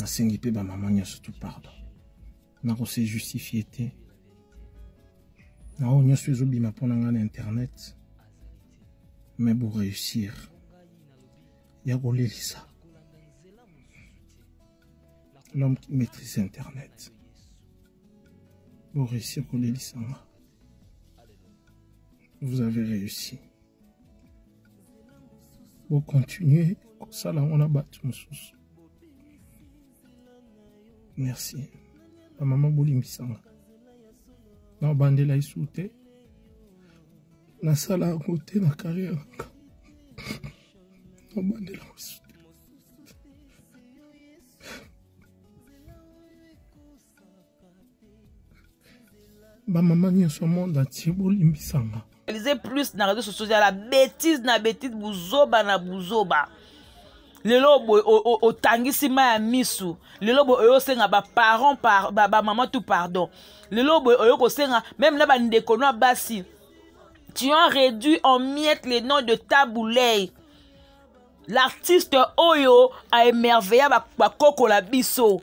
nasengi mpe bamama nyonso tu pardon nakose justifie te na oyo nyonso ezobima mpo na ngai na internet me boreusir ya kolelisa l'homme qui maîtrise internet boreusir kolelisa nga vous avez réussi bocontinue kosala yango na bato mosusu merci bamama bolimbisanga na obandela esu te nasala yango te na kariere nanga na obandela yango esu bamama nyonso ya monde atie bolimbisanga lise plus na radio sociaux ya la bétise na bétise buzoba na buzoba lelo boye otangisi ma ya misu lelo boye oyo osenga baparent par, bamama ba tout pardon lelo boye oyo kosenga meme na bandeko no ya basi tu as réduit en miette le nom de tabouley l'artiste oyo aemerveilla bakokola ba biso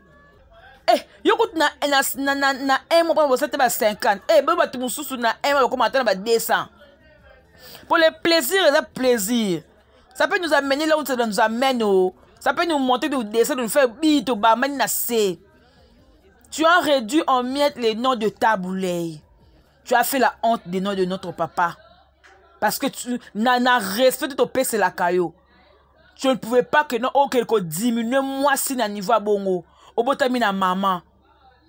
Eh, yo kutu na, na, na, na, na un mois mpona bosa te ba 50 eh, boyo bato mosusu na un mois bakoma ata na ba 200 mpo le plaisir eza plaisir ça peut nous amener là où ça nous amène oh. ça peut nous monter nous descendre nous faire bi tobamani na se tu as réduit en miettes les noms de taboulei tu as fait la honte des noms de notre papa parce que tu na, na respect totopeselaka yo tu ne pouvais pas que non okende kodiminue mwasi na niveau ya bongo obotami na mama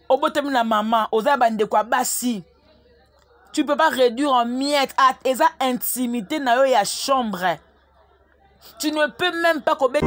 obotami na mama oza ya bandeko ya basi tu peux pas réduire en miette at ah, eza intimité na yo ya chambre tu ne peux même pas kobeta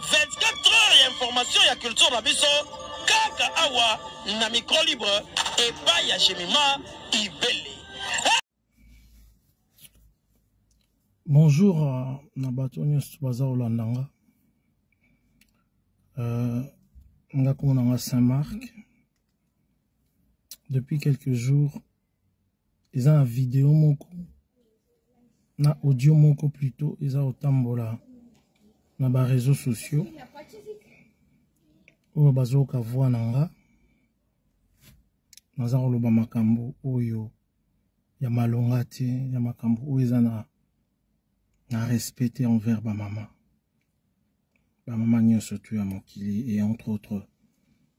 24 heures ya information ya culture na biso kaka awa na micro libre epai ya jemima ibele bonjour euh, na bato nyonso baza kolanda nga euh, nga komona nga saint marc depuis quelques jours eza na video moko na audio moko plutot eza kotambola na bareseau sociaux oyo bazoyoka voi na nga naza koloba makambo oyo ya malonga te ya makambo oyo eza na na respect te envers bamama bamama nyonso tu ya mokili et entre autres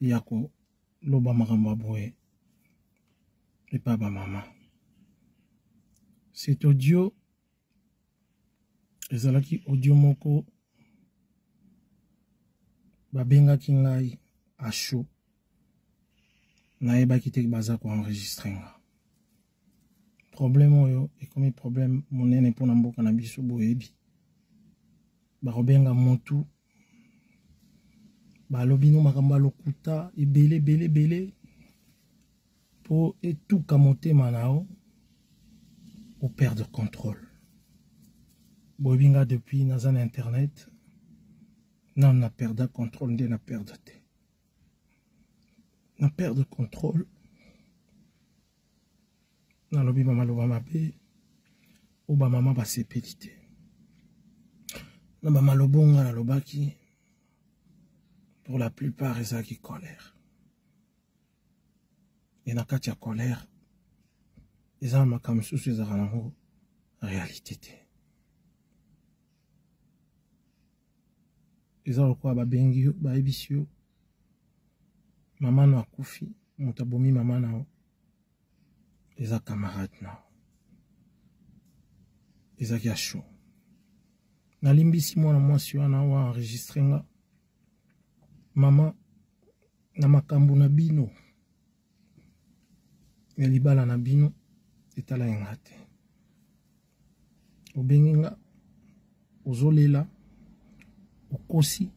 ya koloba makambo ya boye epa bamama cet audio ezalaki audio moko babengaki ngai asho nayebaki te baza koenregistre nga problème oyo ekomi problème monene mpo na mboka na biso boyebi bakobenga motu balobi no makambo ya lokuta ebele ebele ebele mpo etuka motema na yo operdre contrôle boyebi nga depuis naza na internet nano na perda contrôle nde na perdre te na perdre contrôle nalobi bamaloba mabe oyo bamama basepeli te na bamaloba onga nalobaki pour la plupart ezalaki colère e na kati ya colère eza na makambo mosusu ezalaka nango réalité te eza lokola babengi yo bayebisi yo mama no akufi moto abomi mama na yo eza camarade na yo ezalaki ya show nalimbisi mwana mwasi wana oyo enregistre nga mama na makambo na bino ya libala na bino etala ye nga te obengi nga ozolela okosi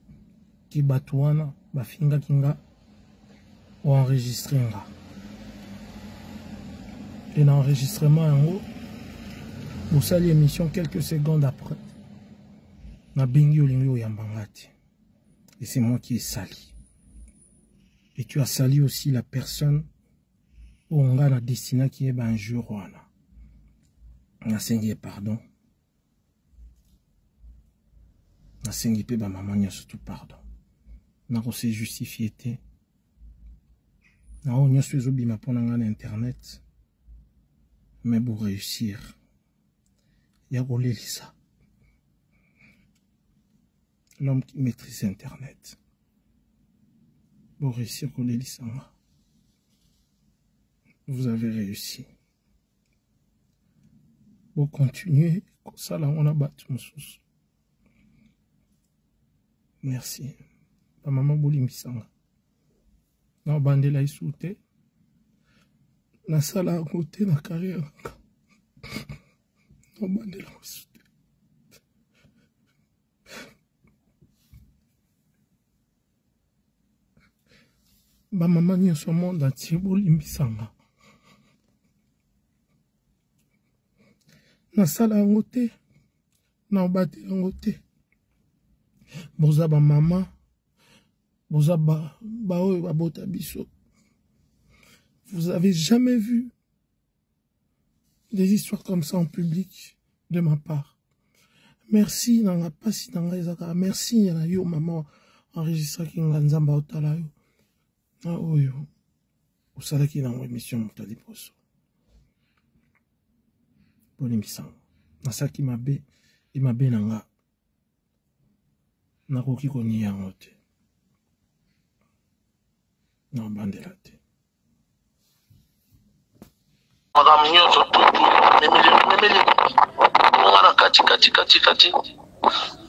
ke bato wana bafingaki nga oenregistre nga e na enregistrement yango bosali émission quelques secondes après nabengi olingi oyamba nga te et c'est moi qui esali et tu as sali aussi la personne oyo ngai na destinaki ye banjour wana nasengi ye pardon nasengi mpe bamama nyonso tu pardon nakose justifie te na oyo nyonso ezobima mpo na ngai na internet me boreusir ya kolelisa l'homme qui maîtrise internet Vous réussir qu'on ait vous avez réussi Vous continuez ça là on a battu mon sous. merci La maman bolimbisanga na bandela isu te nasala yango te na carrière nanga na bandela isu bamama nyonso monde antie bolimbisanga nasala yango te na obate yango te boza bamama boza baoyo ba babota biso vous avez jamais vu des histoires comme ça en public de ma part merci na nga mpasi na ngai ezaka merci ya na yo mama enregistraki nga nzambe aotala yo na oyo osalaki nango émission moto ya liboso bolimbisanga nasalaki mabe ye mabe na nga nakoki konia yango te nabandela te makambo nyonso tutu memeli bonga na kati kati kati kati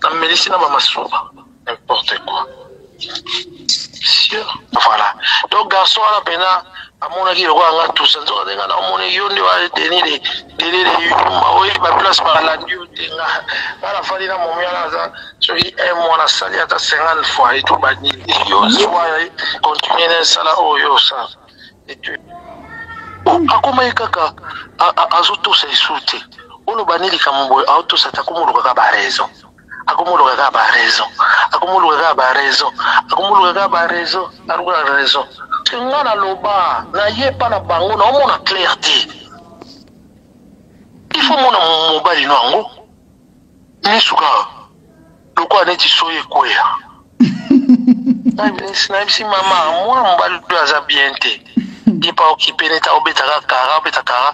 namelisi na bamasuba n'importe quoi voilà donc garçon wana mpena amonaki lokola nga tusa nzoka nde nga na omoni yo nde wa deni de deni de yuma oyebi baplace balandi yo te nga nga nafandi na momi wana aza soki un mois nasali ata cinquante fois etu banini yo zwa continue na esala oyo osala etu akomaki kaka azotosa esu te oloba nini likambo boye aotosa te akomolukaka baraison akomoluka kaka ba raison akomoluka kaka ba raison akomoluka kaka ba raison aluka raison te nga naloba naye epa na bango naomona claire te ifo mona mobali no yango misu kaka lokola neti soyi ekweya nayebisi mama mwana mobali oyo aza bien te ye pa okipe neti aobetaka kara obeta kara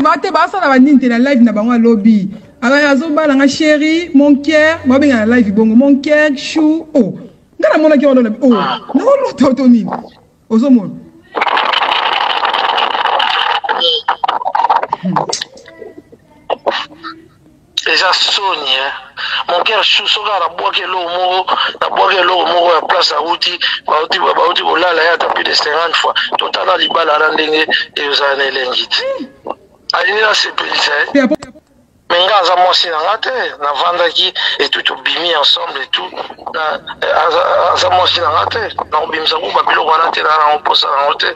bate basala banini te na live na bango alobi azobala nga sheri monker babenga na live bongo monker chou o oh. nga namonaki yango lobi o naolota oto nini ozomona eza soni hein mon cœur chou soki kaka nabwaki eloko moko nabwaki eloko moko ya place awuti bawuti bawuti kolala ye ata plus de 50 fois totala libala wana ndenge ezala na elengi te alingi nasepelisa ye eh. me nga aza mwasi na nga te navandaki etout tobimi ensemble etout eh, aza mwasi na nga te nakobimisa kuba biloko wana te naa nango mposa nango te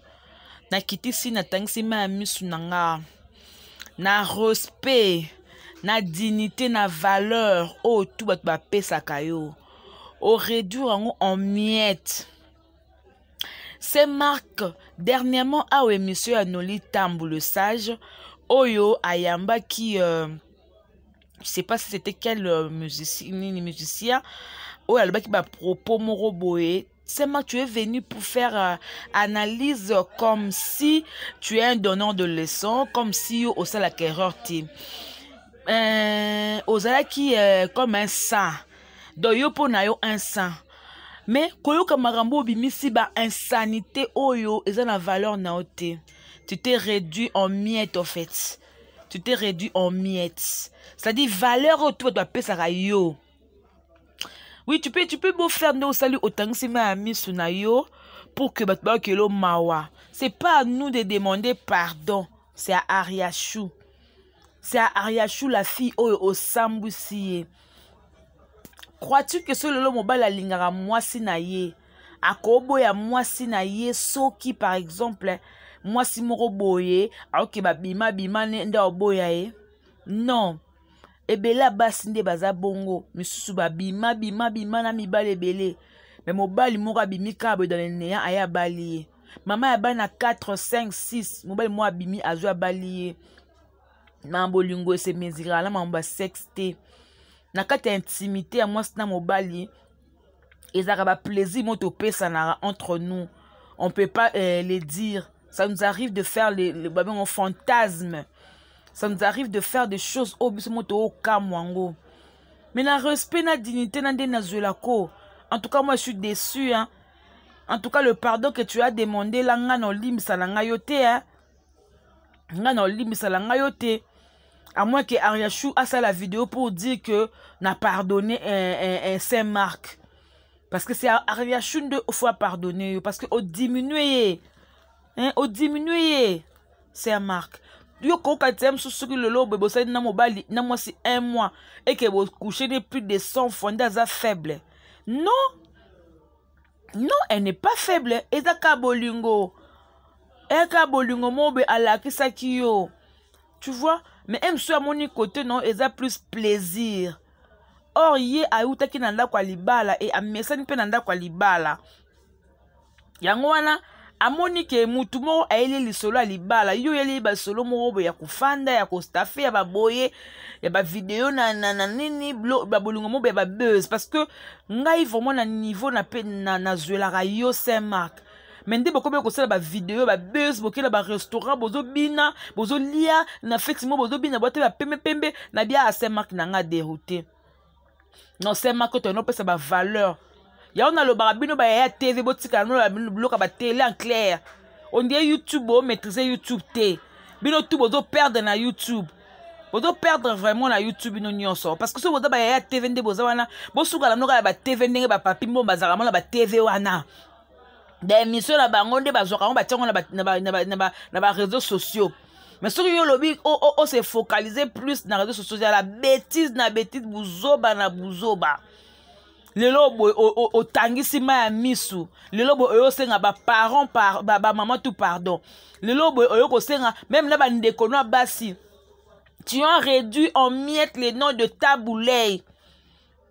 nakitisi natangisi mai ya misu na nga na respect na dignité na valeur oyo tu bato bapesaka yo oréduire yango en miette se marque dernièrement awa emission ya noli tambu le sage oyo ayambaki euh, je sais pas si c'était quel euh, musicien, musicien oyo alobaki bapropos moko boye Seulement, tu es venu pour faire euh, analyse comme si tu es un donneur de leçons, comme si au sein la erreur t'es. Euh, ozalaki euh, comme un saint donc yo mpo na yo un saint mais koyoka makambo obimisi ba insanité oyo eza na valeur na yo te tu t'es réduit en miette en fait tu t'es réduit en miette c'est-à-dire valeur oyo to bato bapesaka yo oui tu peux tu peux beau faire nde osali otangisi mai ya misu na yo pour que bato bakelo mawa c'est pas à nous de demander pardon c'est à ariachou c'est à ariachou la fille oyo osambwisi ye crois-tu que soki lelo mobali alingaka mwasi na ye akoboya mwasi na ye soki par exemple mwasi moko boye aoke babima bima nde aoboya ye non ebele ya basi nde baza bongo misusu babima bima bima na mibali ebele me mobali moko abimi kaka boye dans le néant aye abali ye mama ya bana 4 5 6 mobali moko abimi azwi abali ye na bolingo esemezirala na mambo ya sexe te na kati ya intimité ya mwasi na mobali ezalaka baplaisir mo topesanaka entre nous on peut pas euh, les dire ça nous arrive de faire les, les babengo fantasme ça nous arrive de faire des choses oyo biso mo tookamwa yango mais na respect na dignité na nde nazwela ko en tout cas moi je suis déçu hein. en tout cas le pardon que tu as demandé la nga na olimbisa na ngai yo te hein. ngai na olimbisala ngai yo te à moins que ariachou asala video pour dire que na pardonne eh, eh, eh, saint marc parce que c'est ariachou nde faut apardonne yo parce que odiminue ye hein, odiminue ye saint marc yo kokoka te mosusu soki lelo boye bosali na mobali na mwasi un mois eke bocouche ne plus de 100 fois nde aza faible non non elle n'est pas faible eza ka bolingo eka bolingo mobe alakisaki yo tu vois mais ye mosusu amoni kote no eza plus plaisir or ye awutaki na ndako ya libala e amesani mpe na ndako ya libala yango wana amoni ke mutu moko ayeli lisolo ya libala yo oyeli basolo moko boye ya kofanda ya kostafe ya baboye ya bavideo na, na, na nini babolingo moko ya babuse parce que ngai vraiment na niveau na mpe nazwelaka na yo saint mark me nde bokomi kosala bavideo babuse bokela barestaurant bozobina bozolia na feti moko bozobina bwate bapembepembe na bia ya saint mark na ngai deroute non se mako to enopesa bavaleur yango nalobaka bino bayaya tv botikala noloba bino biloko ya batele en claire ondie youtube bomaîtrise youtube te bino tu bozoperdre na youtube bozoperdre vraiment na youtube bino nyonso parce que soki boza bayaya tv nde boza wana bosukala mnoka ya batv ndenge bapapi mbo bazalaka mona batv wana baémission na bango nde bazwaka yango batia yango na baréseau sociaux mais soki yo olobi ose focalise plus na réseau sociaux ya la bétise na bétise buzoba na buzoba lelo boye otangisi ma ya misu lelo boye oyo osenga baparent bamama tout pardon lelo boye oyo kosenga meme na bandeko no ya basi tu as réduit en miette le nom de tabulei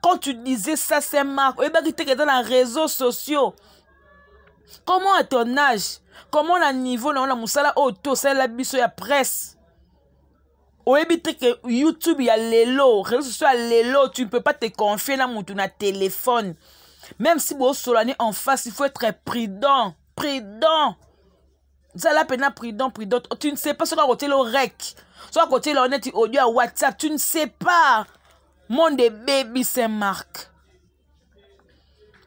quand tu disais ça c'est marque oyebaki te keza na réseaux sociaux comment à ton âge comment na niveau na yo na mosala oyo te osalela biso ya presse oyebi te ke youtube ya lelo réseau sociaux ya lelo tu ne peux pas te confier na motu na téléphone même si bosolani en face il faut être prudent prudent zala mpena prudent prudent tu ne sais pas soki akotiela orek soki akotiela o neti audio ya whatsapp tu ne sais pas monde ebebi saint marc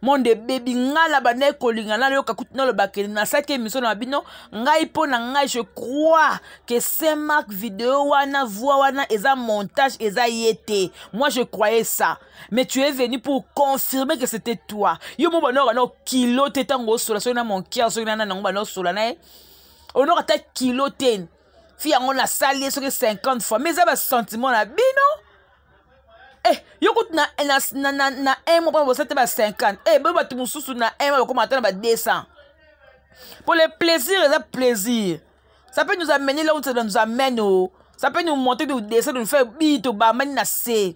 monde ebebi ngai na bandaki kolinga nayoka kutu nalobaka nasalaki emission na bino ngai mpo na ngai je crois que saint marc video wana voi wana eza montage eza ye te moi je croyais ça mais tu es venu pour confirmer que c'était toi yo mo bana bana kilo te tango osola soki na mon cœur soki na nana ngo bana osola na ye onoko ata kilo te fi yango nasali ye soki 50 fois mais eza basentiment na bino eh, yo kutu na, na, na, na, na un mois mpona bosala te ba 50 eh, boyo bato mosusu na un mois bakoma ata na ba 200 mpo le plaisir eza plaisir ça peut nous amener là où ça nous amène oh. ça peut nous monter nous descendre nous faire bito bamani na se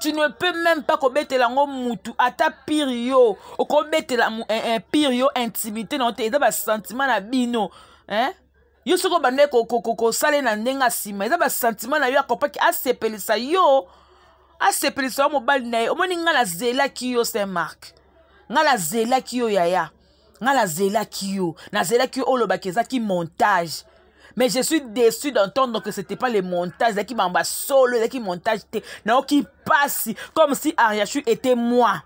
tu ne peux même pas kobetela yango mutu ata pire yo okobetela eh, eh, pire yo intimité na yo te eza basentiment na bino eh? yo soki obandaki kosala ye na ndenge ya nsima eza basentiment na yo akopaki asepelisa yo asepelisa yo mobali na ye omoni ngai nazelaki yo saint mark ngai nazelaki yo yaya nga nazelaki yo nazelaki yo olobaki eza ki montage mais je suis déçu d'entendre que c'était pas le montage ezalaki mamba solo ezalaki montage te nayoki mpasi comme si ariachu était moi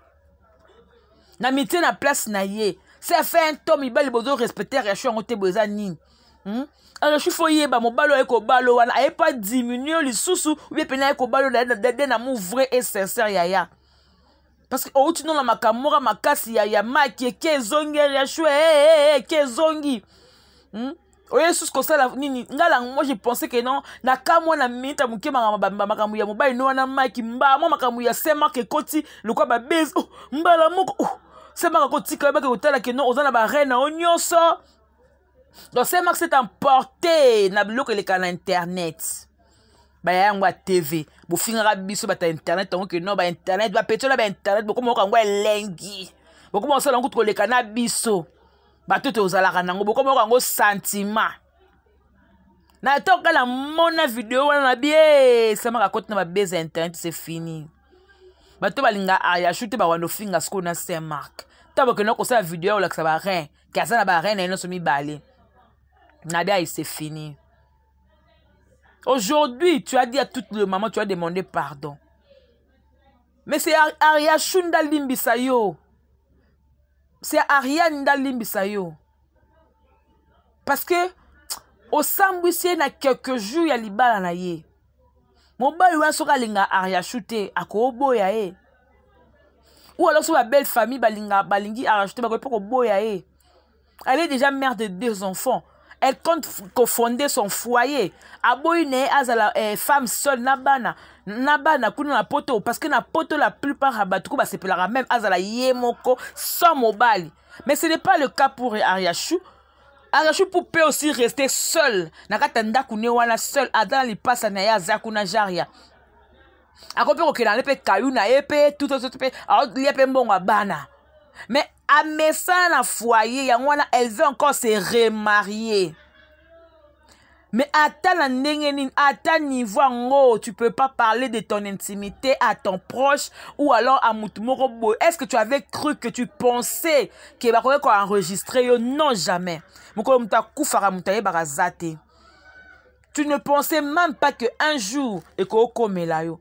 na mitie na place na ye se fait un temps mibali bozo respecte ariachu yango te bo eza nini hmm? ariachu fo yeba mobali oyo aye kobalo wana aye pa diminue lisusu oye pene aye kobalo de na mou vrai et sincère yaya parce que outi nona makambo moka makasi ya, ya maki eke ezongi ya shue hey, eh, eh, hey, eh, eke ezongi hmm? oye susu kosala nini ngai lango moi je pensais que non na ka mwa na minute ya moke makambo ya mobali no wana maki mbala mwa makambo ya semak ekoti lokola babezi oh, mbala moko oh, semak akotika yebaki kotala ke non oza na barene na yo nyonso donc se max est emporté na biloko elekaka na internet baya yango ya tv bofingaka biso bata internet yango ke no bainternet bapetiola bainternet bokoma oka yango elengi bokoma kosala yango kutu koleka na biso bato te ozalaka nango bokoma oka yango sentiment na to kala mona video wana na bie samaka akoti na babese ya internet se fini bato balinga ayashu te bawanda ofinga sikoyo na saint mark ntango bakenda kosala video ya kolakisa barin ke aza na bareine na ye nyonso mibale nabe aye se fini aujourd'hui tu as dit à tout le maman tu as demandé pardon mais c'est ariachou ndalimbisa yo c'est ariane ndalimbisa yo parce que osambwisi ye na quelques jours ya libala na ye mobali wana soki alinga ariachou te akooboya ye ou alors soki babelle famille balinga balingi ariachou te bakoki mpe koboya ye elle est déjà mère de deux enfants elle compte kofonder son foyer aboyi na ye azala eh, femme seule na bana na bana kuna na poto parce que na poto la plupart ya bato ko basepelaka meme azala ye moko sans mobali mais ce n'est pas le cas pour ariachou arachou pour pe aussi rester seul na kati ya ndako ne wana seul aza na lipasa na ye aza kuna jaria akoki mpe kokenda ne mpe kayu na ye mpe tutototo mpe aolia mpe mbongo ya bana mais amesana na foyer yango wana elle veut encore se remarier Mais ata na ndenge nini, ata niveau yango, tu peux pas parler de ton intimité à ton proche ou alors à mutu moko boye. Est-ce que tu avais cru que tu pensais que bakoki ko enregistrer yo? Non, jamais. Mokolo mutu akufaka mutu ayebaka za te. Tu ne pensais même pas que un jour ekoki komela yo.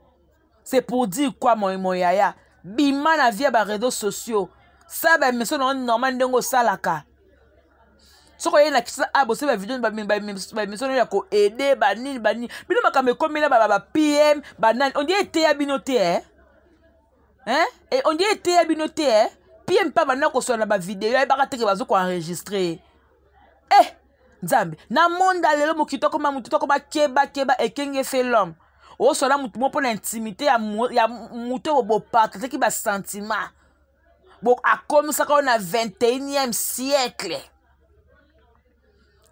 c'est pour dire quoi mon, mon yaya bima na vie ya bareseau sociaux sala baemission nango normal ndenge osalaka soki oye na kisa a bosi bavideo baemission no ya koaide banini banini bino makambo ekomela bapm banani ondie eteya bino te eh? hein? e ondie eteya bino te eh? pm mpe banda koswana na bavideo ayebaka teke bazo koenregistre eh nzambe na monde ya lelo mokili tokoma motu tokoma kebakeba ekenge fe l'homme osola motu moko mpo na intimité ya motu oyo bopartageki basentiment akomisaka oyo na 21e siècle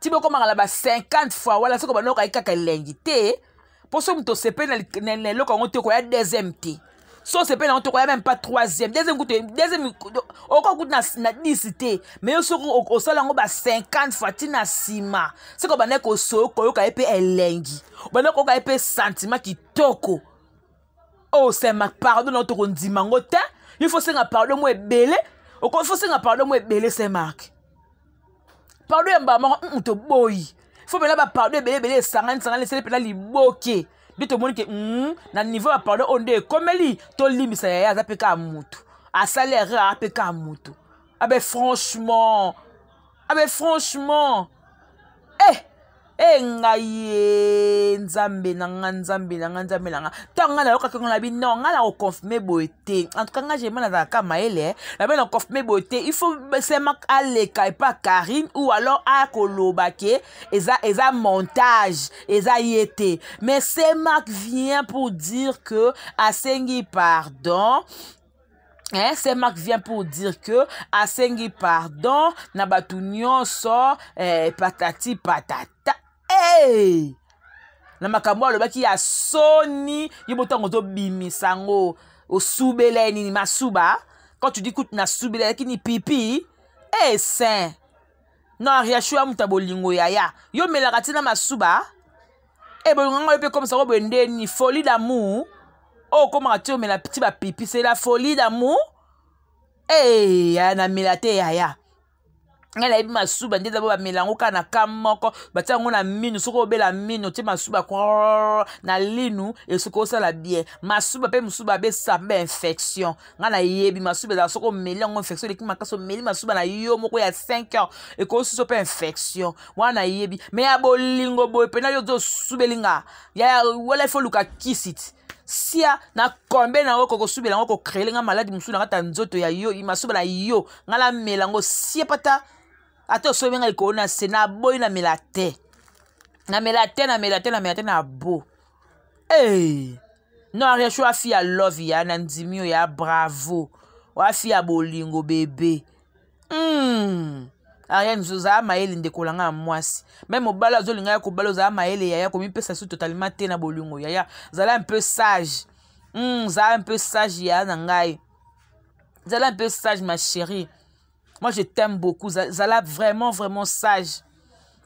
ti bokomaka na ba 50 fois wana soki obanda okayi kaka elengi te mpo soki moto osepeli na eloko yango te okoya deuxième te so osepeli yango te okoya meme pas troisième deuxième kutu deuxième okoka kutu na dix te mais yo soki osala yango ba 50 fois ti na nsima soki obandaki kosoyo koyoka ye mpe elengi obandaki koyoka ye mpe sentiment kitoko oyo oh, osema pardon na yo tokondima yango te il faut senga pardon mo ebele okoki fosenga pardon mo ebele se marke pardon ya mbala moko mm, toboyi fo mpena bapardon ebele ebele esangani sangani esele mpena liboke nde tomoni ke mm, na niveau ya pardon oyo nde ekomeli tolimbisa yaya aza mpe kaka motu asali erreur aza mpe kaka motu abe ah franchement abe ah franchement eh e ngai ye nzambe na nga nzambe na nga nzambe na nga ntango ngai nayokaki ngo na bi non ngai nakoconfirme boye te en tout cas ngai jema nazalaka kaka mayele nabe naconfirme boye te il faut sema aleka epa karine ou alors akoloba ke eza eza montage eza ye te mais semak vient pour dire que asengi pardon Eh, c'est Marc vient pour dire que asengi pardon na bato nyonso eh, patati patata hey! Eh! na makambo alobaki ya soni ye botango tobimisa yango osubela ye nini masuba quand tu dis kutu nasubela lakini pipi eh, saint non ariashu ya moto ya bolingo yaya yo melaka ntina masuba e bolingo ngai yo mpe komisa ngo boye nde nini folie d'amour oyo okomaka ti omela ti bapipi c'est la folie d'amour ee yaya namela te yaya ngai nayebi masuba nde dabo bamela yango kaka na ka moko batia yango na minu soki obela minu otie masuba na linu esoki osala bien masuba mpe mosusu babesisa mpe bainfection ngai nayebi masuba ezala soki omeli yango infection eleki makasi omeli masuba na yo moko ya 5 heures ekosusu mpe infection wana nayebi me ya bolingo boye mpena yo ozo osubeli nga ya wala ifo oluka kisiti sia na kombe na yango kokosubela yango kokrele nga maladi mosusu na kati ya nzoto ya yo masuba na yo ngai namela yango sie pata ata osobi ngai likolo na se naboyi namela te namela te namela te namela te na bo Hey! Non, Ariachou a fille à love ya na ndimi yo ya bravo. Wa fille à bolingo bébé. Hmm. Ariane ozala mayele ndeko na ngai ya mwasi meme mobali azolinga ya kobala ozala mayele yaya komipesa su totalement te na bolingo yaya zala un peu sage mm, zala un peu sage yaya na ngai zala un peu sage ma chérie moi je t'aime beaucoup zala vraiment vraiment sage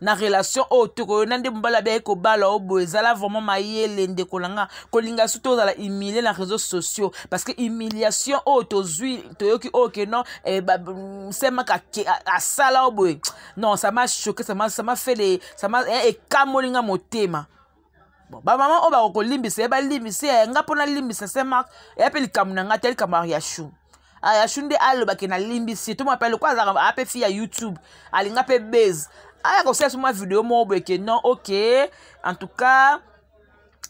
na relation oyo tokoyo na nde mobali abiaki kobala o boye ezala vraiment mayele ndeko na nga kolinga su tozala humilie na réseau sociaux parce que humiliation oyo tozwi toyoki oyo ke non eh, mm, semaka asala o boye non ça m'a choqué ça m'a fait les ça m'a eh, ekamoli nga motema bon bamama oyo bako kolimbisa ye balimbisa ye nga mpo nalimbisa saint mark eya mpe likambo na ngai te likambo ya riachou ayashu nde alobake nalimbisi to mapele lokola azalaka ape fi ya youtube alinga mpe base aya kosala so mwa video moko boye ke non ok en tout cas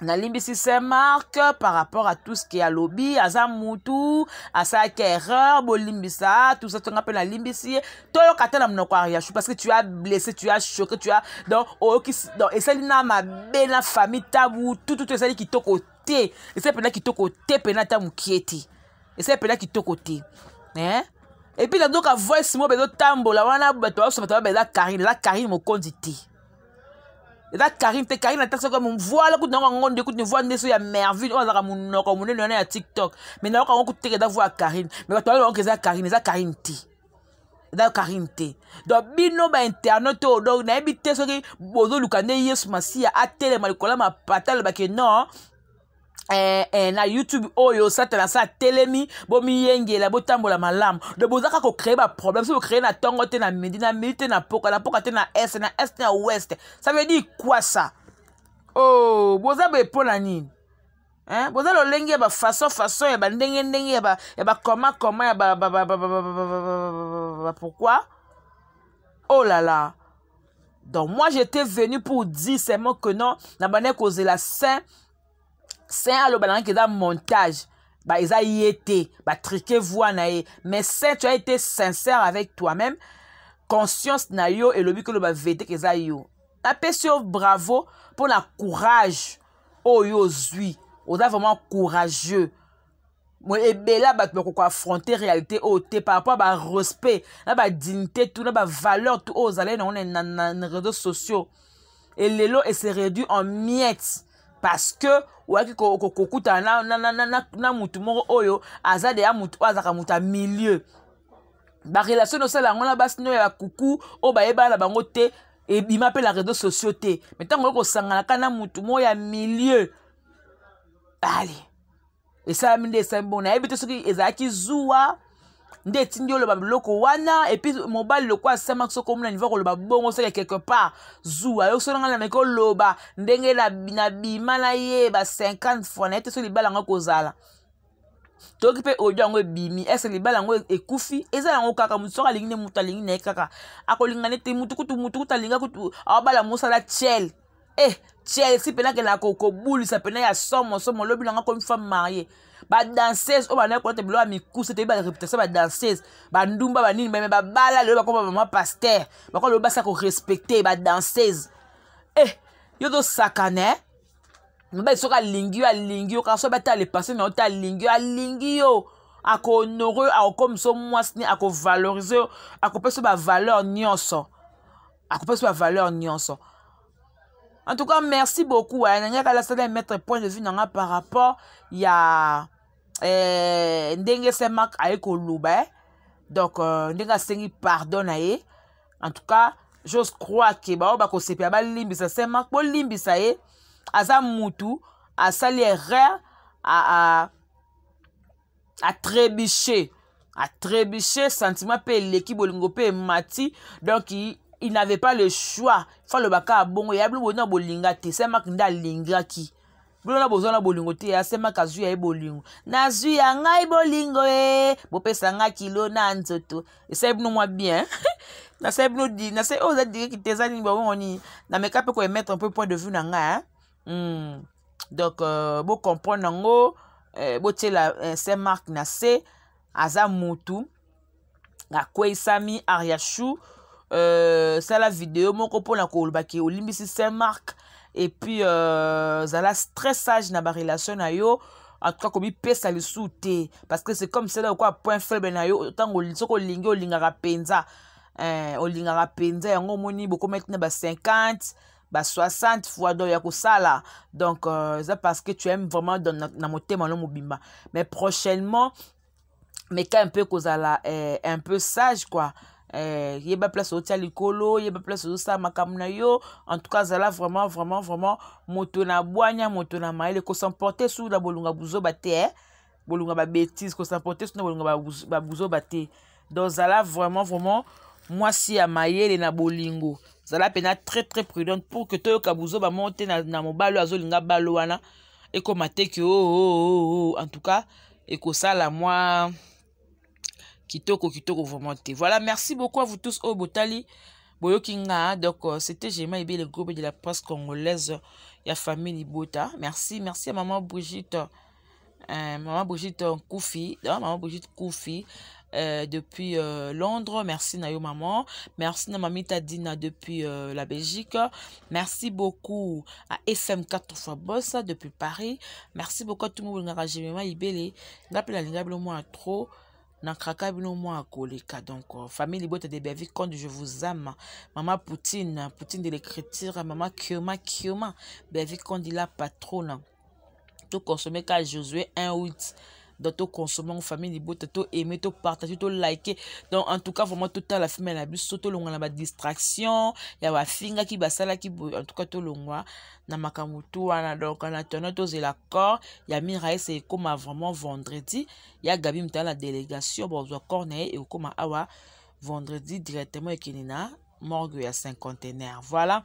nalimbisi saint marc par rapport à tout ce qui alobi aza mutu asalaki erreur bolimbisa tusa tonga mpe nalimbisi ye toyoka ata na monoko ya yachu parce que tu as blessé tu as choqué tu as donc oyoki donc esali na mabe na famille tabu tututu esali kitoko te esali mpenza kitoko te mpenza ata mokie te esali mpenza kitoko te eh? epuis nazoka voice moko bezotambola wana bato basoba taba eza karine eza karine mokonzi te eza karine te karine ataki soko voile kutu nango yango nde kutu voile nde so ya merville oyo azalaka monoko monene wana ya tiktok mai nayoka yango kutu teke eza voix ya karine mai bato bayoka eza karine eza karine te eza karine te donc bino bainternet oyo donc nayebi te soki bozoluka nde yesu masiya atelema likolo ya mapata alobake non Eh, eh, na youtube oyo satana asa atelemi bomiyengela botambola malamu do bozaka kocree baproblème so bocree na ntongo te na midi na midi te na poka na poka te na est na est na ouest ça veut dire quoi ça oh boza boye mpo na nini hein? boza lolenge ya bafaçon façon ya bandenge ndenge ya bakoma koma ya pourquoi oh là là donc moi j'étais venu pour dire seulement que non na bandaki kozela saint saint aloba nangaki eza montage ba eza ye te batrike voi na ye mais saint tu as été sincère avec toi-même conscience na yo elobi koloba vete ke eza yo napesi yo bravo mpo na courage oyo yo ozwi oza vraiment courageux ebele ya bato bakoki koaffronte réalité oyo te par rapport ya barespect na badignité tu na bavaleur tu oyo ozali nango na réseau sociaux e lelo e se réduit en miette parce que oyaki kokutana na, na, na, na, na motu moko oyo aza deya motu oyo azalaka motu ya milieu barelation nosala yango na basi no ya kuku oyo bayebana na bango te ebima mpe na réseau sociaux te me ntango oyo kosangana ka na motu moko ya milieu ale esalami nde esalami bongo nayebi te soki ezalaki zuwa nde etindi oloba biloko wana epuis mobali lokola asamaki soki omona nivo koloba bongo soki quelque part zuwa yo soki nanga nameki oloba ndenge nabima na ye ba 50 fois naye te soki libala yango ekozala toyoki mpe audio yango ebimi ese libala yango ekufi eza yango kaka motu soki alingi nde motu alingi na ye kaka akolinga nde te motu kutu motu kutu alinga kutu aobala mosala tiel e eh, tiel si mpena akenda kobulisa mpena ya somo somo lobi nanga komi femme marie badanseuse oyo bandaki kolata biloko ya mikuse toyebi bareputation ya badanseuse bandumba banini bame babala lelo bakoma bamama paster bakoma lelo basi ya korespecte badanseuse e eh, yo tosakana mobali soki alingi yo alingi yo kaka soki batala lepase na yo te alingi yo alingi yo akohonore yo akokomisa yo mwasi ne akovalorize yo akopesa yo bavaleur nyonso akopesa yo bavaleur nyonso en tout cas merci beaucoup eh, nangaka lasala mettre point de vue na nga par rapport ya eh, ndenge saint mark aye koloba eh. donc euh, ndenge asengi pardon na ye en tout cas j'ose croire ke baoyo bakosepela balimbisa saint mark bolimbisa ye aza mutu asali erreur atrebuche atrebuche sentiment mpe eleki bolingo mpe emati donc il n'avait pas le choix fo aloba kaka bongo ya bino boyina bolinga te saint mark nde alingaki bino na boza na bolingo te asemaka azwi ya ye bolingo nazwi ya ngai bolingo e bopesa ngai kilo na nzoto esali bino mwa bien nasali bino di nasali oyo oza direki te eza nini babongo nini nameka mpe koemettre un peu point de vue na ngai hmm. donc euh, bocomprendre yango euh, botyela euh, saint mark na se aza mutu akweisami ariachou euh, sala video moko mpona koloba ke olimbisi saint marc epuis euh, zala très sage na barelation na yo en tout cas komipesa lisusu te parce que c'est comme cela okoa point faible na yo ntango soki olingi olingaka mpenza eh, olingaka mpenza yango omoni bokomaki na ba 50 ba 60 fois donc ya kosala donc euh, eza euh, parce que tu aimes vraiment dans, na, na motema no mobimba mais prochainement meka un peu kozala eh, un peu sage quoi eh, yeba place otia likolo yeba place ozosala makambo na yo en tout cas azala vraiment vraiment vraiment moto na bwanya moto na mayele kosemporte su na bolunga buzoba te eh? bolunga babétise kosemporte su na bolunga babuzoba te donc zala vraiment vraiment mwasi ya mayele na bolingo zala mpena très très prudente pour que toyoka buzoba moko te na, na mobali oyo azolinga balo wana ekoma te ke oo oh, oh, oh, en tout cas ekosala mwa kitoko kitoko vraiment te voilà merci beaucoup à vous tous oyo botali boyoki nga donc euh, c'était gema ebele gobe de la presse congolaise ya famille libota merci merci ya maman brigitte euh, maman brigitte nkufi maman brigitte nkufi Euh, depuis euh, Londres. Merci Nayo Maman. Merci na Mamita Dina depuis euh, la Belgique. Merci beaucoup à FM 4 fois Bossa depuis Paris. Merci beaucoup à tout le monde ngaka jemema ibele. Ngape la linga bino moi trop. nakraka bino mwa koleka donc euh, famille libota de bavi conde je vous aime mama poutine poutine de l'écriture mama kioma kioma bavi conde la patrona to consommer ka Josué 1 8 donc to consommer ngo famille libota to aimer to partager to liker donc en tout cas vraiment totala filme na biso tolongwa na badistraction ya bafingaki basalaki boye en tout cas tolongwa na makambo tu wana donc en attendant tozela corps ya miraes ekóma vraiment vendredi ya gabi motala na délégation bozwa corps na ye ekóma awa vendredi directement ekende na morgue ya cinquantenaire voilà